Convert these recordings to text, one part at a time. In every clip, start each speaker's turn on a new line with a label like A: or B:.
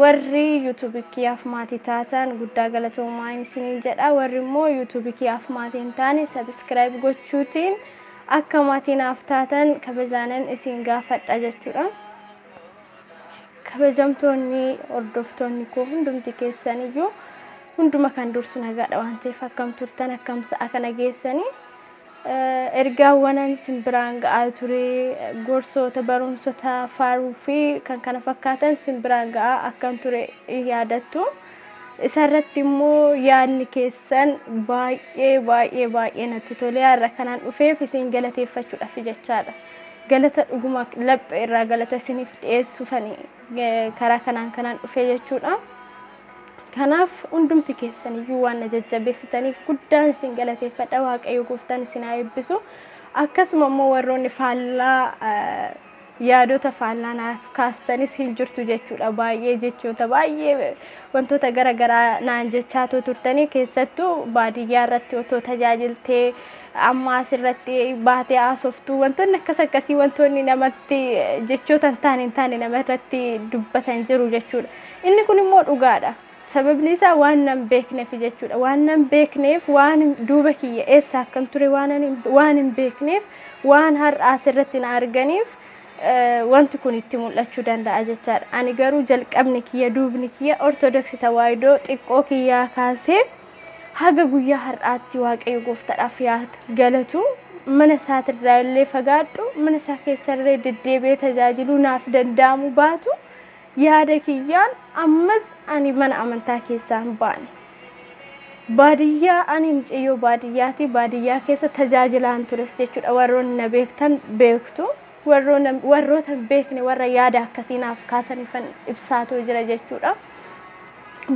A: Warri YouTube kiyyaaf maatii taatan guddaa galatoomaa isiniin jedha. Warri immoo YouTube kiyyaaf maatii hin taane subscribe gochuutiin akka maatii naaf taatan kabajaanan isin gaafadha jechuudha. Kabajamtoonni hordoftoonni koo hundumti keessan iyyuu hunduma kan dursu nagaadha waan ta'eef akkam turtan akkam sa'a kana geessanii Ergaawwanan isin biraan ga'aa ture, gorsoota, barumsota, faaruu fi kan kana fakkaatan isin biraan ga'aa akkan ture in yaadattu. Isa irratti immoo yaadni keessan baay'ee baay'ee baay'ee natti tolee har'a kanan dhufeef isin galateeffachuudhaaf jechaadha. Galata dhuguma laphee irraa galata isiniif dhiyeessuufani eh, karaa kanaan kanan dhufe jechuudha. Kanaaf hundumti keessan iyyuu waan na jajjabeessitaniif guddaan isin galateeffadha. Waaqayyo gooftaan isin haa eebbisu. Akkasuma immoo warroonni faallaa yaadota faallaa naaf kaastanis hin jirtu jechuudha. Baay'ee jechoota baay'ee wantoota gara garaa naan jechaatoo turtanii keessattuu baadiyyaa irratti otoo tajaajiltee amma as irratti baatee haasoftuu wantoonni akkas akkasii wantoonni namatti jechoota hin taane hin taane nama irratti dubbatan jiru jechuudha. Inni kun immoo dhugaadha. Sababni isaa waan nan beeknefi jechuudha. Waan nan beekneef waan duuba kiyya eessa akkan ture waan hin beekneef waan har'a asirratti na arganiif wanti kun itti mul'achuu danda'a jechaadha. Ani garuu jalqabni kiyya duubni kiyya Ortodoksii Tawaahidoo xiqqoo kiyyaa kaasee haga guyyaa har'aatti Waaqayyo gooftaadhaaf yaa galatu mana isaatirraa illee fagaadhu mana isaa keessallee deddeebi'ee tajaajiluu naaf danda'amu baatu Yaada kiyyaan ammas ani mana amantaa keessaa hin baane. Baadiyyaa ani mucayyoo baadiyyaati. Baadiyyaa keessa tajaajilaan tures jechuudha. Warroonni na beektan beektu. Warroona- Warroota hin beekne warra yaada akkasii naaf kaasanifan ibsaatoo jira jechuudha.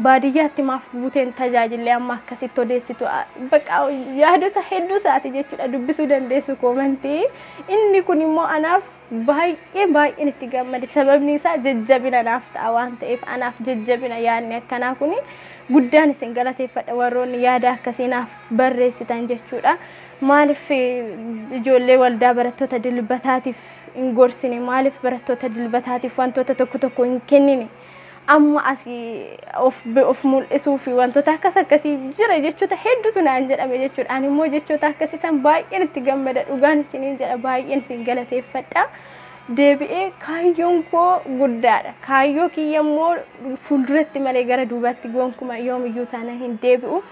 A: Baadiyyaatti maaf buuteen tajaajillee amma akkasitti odeessitu a- baqa yaadota hedduu isaati jechuudha dubbisuu dandeessu koomantii. Inni kun immoo anaaf Baay'ee baay'een itti gammade sababni isaa jajjabina naaf ta'a waan ta'eef anaaf jajjabina yaadni akkanaa kun guddaan isin galateeffadha warroonni yaada akkasii naaf barreessitan jechuudha. Maaliif ijoollee waldaa barattoota dilbataatiif hin gorsine maaliif barattoota dilbataatiif wantoota tokko tokko hin kennine amma asi of of mul'isuu fi wantoota akkas akkasii jira jechoota hedduutu naan jedhame jechuudha. Ani immoo jechoota akkasii san baay'een itti gammada dhugaan isiniin jedha baay'een isin galateeffadha. Deebi'ee kaayyoon koo guddaadha. Kaayyoo kiyya immoo fuulduratti malee gara duubatti gonkumaa yoomiyyuu taana hin deebi'u.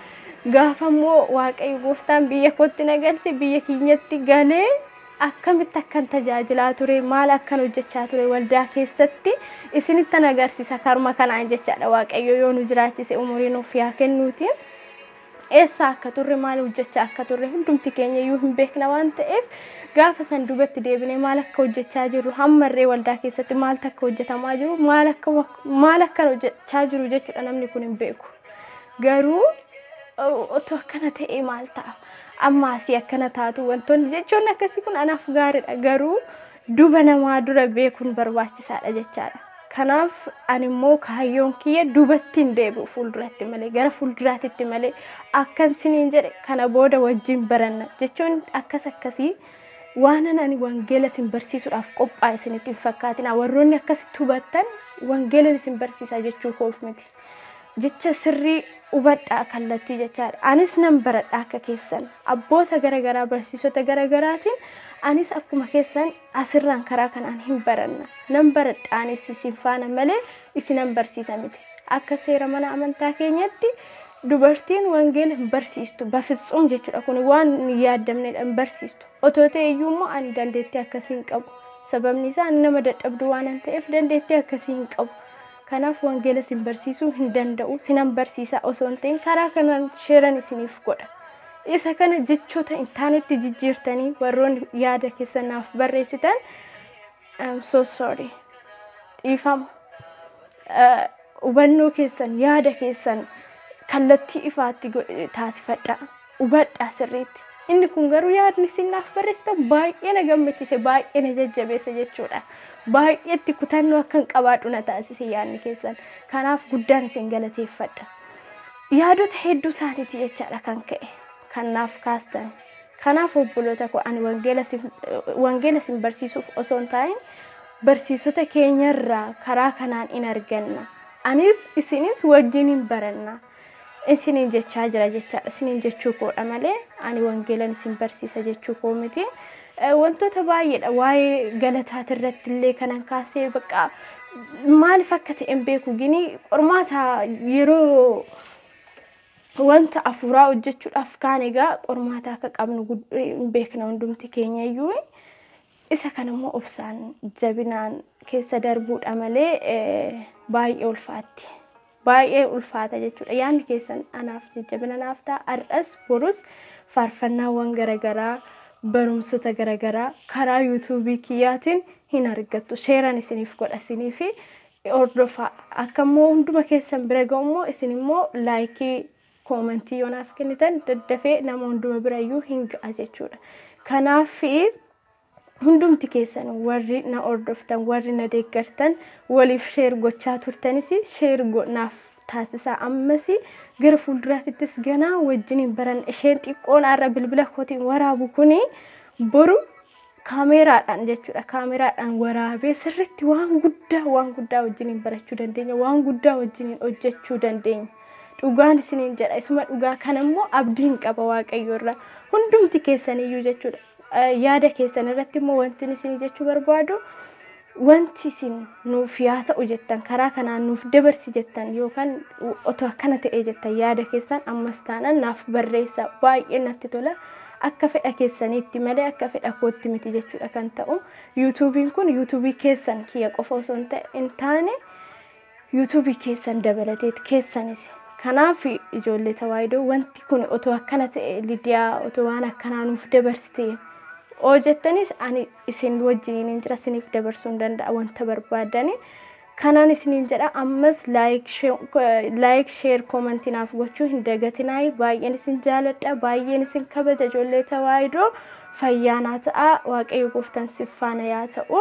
A: Gaafa immoo Waaqayyo gooftaan biyya kootti na galche biyya keenyatti galee akkamitti akkan tajaajilaa ture, maal akkan hojjechaa ture waldaa keessatti isinittan agarsiisa karuma kanaan jechaadha. Waaqayyo yoo nu jiraachise umurii nuuf yaa kennuuti. Eessa akka turre maal hojjechaa akka turre hundumti keenya iyyuu hin beekna waan ta'eef gaafa san dubatti deebinee maal akka hojjechaa jirru hammarree waldaa keessatti maaltu akka hojjetamaa jiru maal akka maal akkan hojjechaa jiru jechuudha namni kun hin beeku. Garuu otoo akkana ta'ee maal ta'a? Amma asii akkana taatu wantoonni jechoonni akkasii kun anaaf gaariidha garuu duba namaa dura beekuun barbaachisaadha jechaadha. Kanaaf ani immoo kaayyoon kiyya dubatti hin deebi'u fuulduratti malee gara fuulduraatitti malee akkan siniin jedhe kana booda wajjin baranna jechoonni akkas akkasii waanan ani wangeela isin barsiisuudhaaf qophaa'e isinitti hin fakkaatina warroonni akkasitti hubattan wangeelan isin barsiisaa jechuu koof miti. jecha sirrii hubadhaa kallattii jechaadha. Anis nan baradha akka keessan abboota garagaraa barsiisota garagaraatiin anis akkuma keessan asirraan karaa kanaan hin baranna. Nan baradha anis isin faana malee isinan barsiisa miti. Akka seera mana amantaa keenyatti dubartiin wangeela hin barsiistu bafitsum jechuudha kun waan hin yaaddamnedha hin barsiistu. Otoo ta'e iyyuu immoo ani dandeettii akkasii hin qabu. Sababni isaa ani nama dadhabdu waanan ta'eef dandeettii akkasii hin qabu. Kanaaf wangeela isin barsiisuu hin danda'u, sinan barsiisa osoo hin ta'in karaa kanaan sheeran isiniif godha. Isa kana jechoota hin taanetti jijjiirtanii warroonni yaada keessan naaf barreessitan I'm so sorry. Dhiifama. Eh, Hubannoo keessan, yaada keessan kallattii ifaatti go- taasifadhaa. hubadhaa sirriitti. Inni kun garuu yaadni isin naaf barreessitan baay'ee na gammachiise, baay'ee na jajjabeesse jechuudha. Baay'ee itti kutannoo akkan qabaadhu na taasise yaadni keessan. Kanaaf guddaan isin galateeffadha. Yaadota hedduu isaaniiti jechaadha kan ka'e kan naaf kaastan. Kanaaf obboloota koo ani wangeela isin- wangeela isin barsiisuuf osoo hin taa'in barsiisota keenyarraa karaa kanaan in arganna. Anis isinis wajjin hin baranna. isiniin jechaa jira jechaadha. Isiniin jechuu koodha malee ani wangeelan isin barsiisa jechuu koo miti. Eh, Wantoota baay'eedha waa'ee galataati irratti illee kanan kaasee bakka maaliif akka ta'e hin beeku gini qormaata yeroo wanta afuuraa hojjechuudhaaf kaan egaa qormaata akka qabnu gud- hin beekna hundumti keenya iyyuu isa kana immoo obsaan jabinaan keessa darbuudha malee eh, baay'ee ulfaatti. Baay'ee ulfaata jechuudha. Yaanni keessan anaaf jajjabina naaf ta'a. Har'as borus faarfannaawwan garagaraa barumsota garagaraa karaa yuutuubii kiyyaatiin hin argattu. Sheeran isiniif godha isinii fi hordofaa. Akka immoo hunduma keessan bira ga'u immoo isin immoo laayikii koomantii yoo naaf kennitan daddafee nama hunduma bira iyyuu hin ga'a jechuudha. Kanaaf Hundumti keessan warri na hordoftan, warri na deeggartan, waliif share gochaa turtanis share naaf taasisaa. Ammas gara fuulduraatittis ganaa wajjiniin baranna. Isheen xiqqoon har'a bilbila kootiin waraabu kuni boru kaameeraadhaan jechuudha. Kaameeraadhaan waraabee sirriitti waan guddaa waan guddaa wajjiniin barachuu dandeenya. Waan guddaa wajjiniin hojjechuu dandeenya. Dhugaan isiniin jedha. Isuma dhugaa kana immoo abdiin qaba Waaqayyo irraa. Hundumti keessaniyyuu jechuudha. Yaada keessan irratti immoo wantin isin jechuu barbaadu wanti isin nuuf yaa ta'u jettan karaa kanaan nuuf dabarsi jettan yookaan otoo akkana ta'ee jettan yaada keessan ammas taanaan naaf barreessa baay'ee natti tola akka fedha keessaniitti malee akka fedha kootti miti jechuudha kan ta'u yuutuubiin kun yuutuubii keessan kiyya qofa osoo hin taane YouTube keessan dabalatee keessanis kanaaf ijoollee tawaayidoo wanti kun otoo akkana ta'e lidiyaa otoo waan akkanaa nuuf dabarsite oo jettanis ani isin wajjiniin hin jira isiniif dabarsuu hin danda'a wanta barbaadani kanaan isiniin jedha ammas laayik sheer koomantii naaf gochuu hin dagatinaay baay'een isin jaaladha baay'een isin kabaja ijoollee tawaayidoo fayyaa naa ta'a waaqayyo gooftan siffaana yaa ta'u.